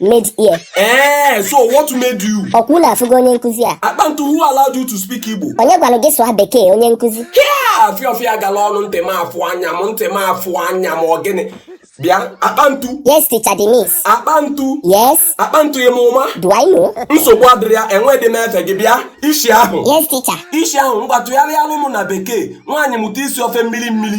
made ear. Eh, so what made you? Ọkwa unu afụgo onye nkụzi a? Akpantu who allowed you to speak Igbo? Onye gwara gị sụọ bekee onye nkụzi? Hia! Fịọfịọ gala ọnụ ntị m afụ anya m ntị m afụ anya m ọ gịnị? Bịa, akpantu. Yes, teacher Denise. Akpantu. Yes. Akpantu emume. Do I know? Nsogbu adịrị ya, enweghị m efe gị bịa, isi ahụ. Yes, teacher. Isi ahụ, ngwa tụgharịalụ mụ na bekee, nwaanyị mụta isi ofe mmiri mmiri.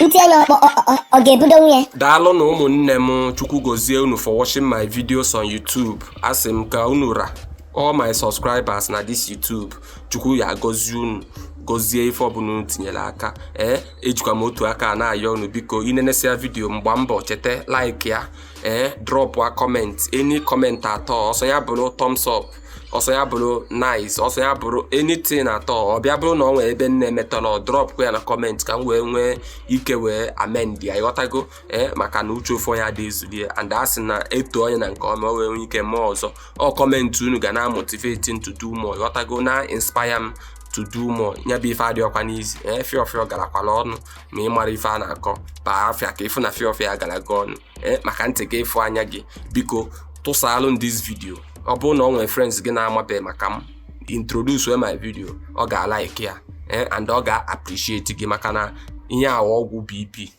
ntị anya ọ- ọ- ọ- ọ- ọ ga-ebudo nwa ya daalụ nụ ụmụnne m chukwu gozie unu for watching my videos on youtube asị m ka unu ra all my subscribers na this youtube chukwu ya gozie unu gozie ife ọbụla unu tinyere aka ee ejikwa m otu aka na-ayọ unu biko i nenesịa video m gbaa mbọ cheta like ya ee drọpụa comment any comment at all ọ sọ ya bụrụ thumbs up ọ sọ ya bụrụ nice ọ sọ ya bụrụ anything at all ọ bịa bụrụ na ọ nwere ebe m na-emetarọ dropkwa ya na comment ka m wee nwee ike wee amend ya ịghọtago ee maka na uche ofu onye adị ezulu ya and a sị na e too onye na nke ọ ma o wee nwee ike mee ọzọ ọ comment unu ga na motivate to do more ịghọtago na inspire m to do more nya bụ ife adịrọkwanụ easy ee fịọfịọ garakwara ọnụ ma ị mara ife a na-akọ baa afịa ka ị fụ na fịọfịọ ya gara gị ọnụ eh, maka ntị gị ịfụ anya gị biko tụsaalụ m this video ọ bụrụ na ọ nwere friends gị na-amabeghị maka m introduce my video ọ ga-alike ya eh, and ọ ga-appreciate gị maka na ihe a wụ ọgwụ BP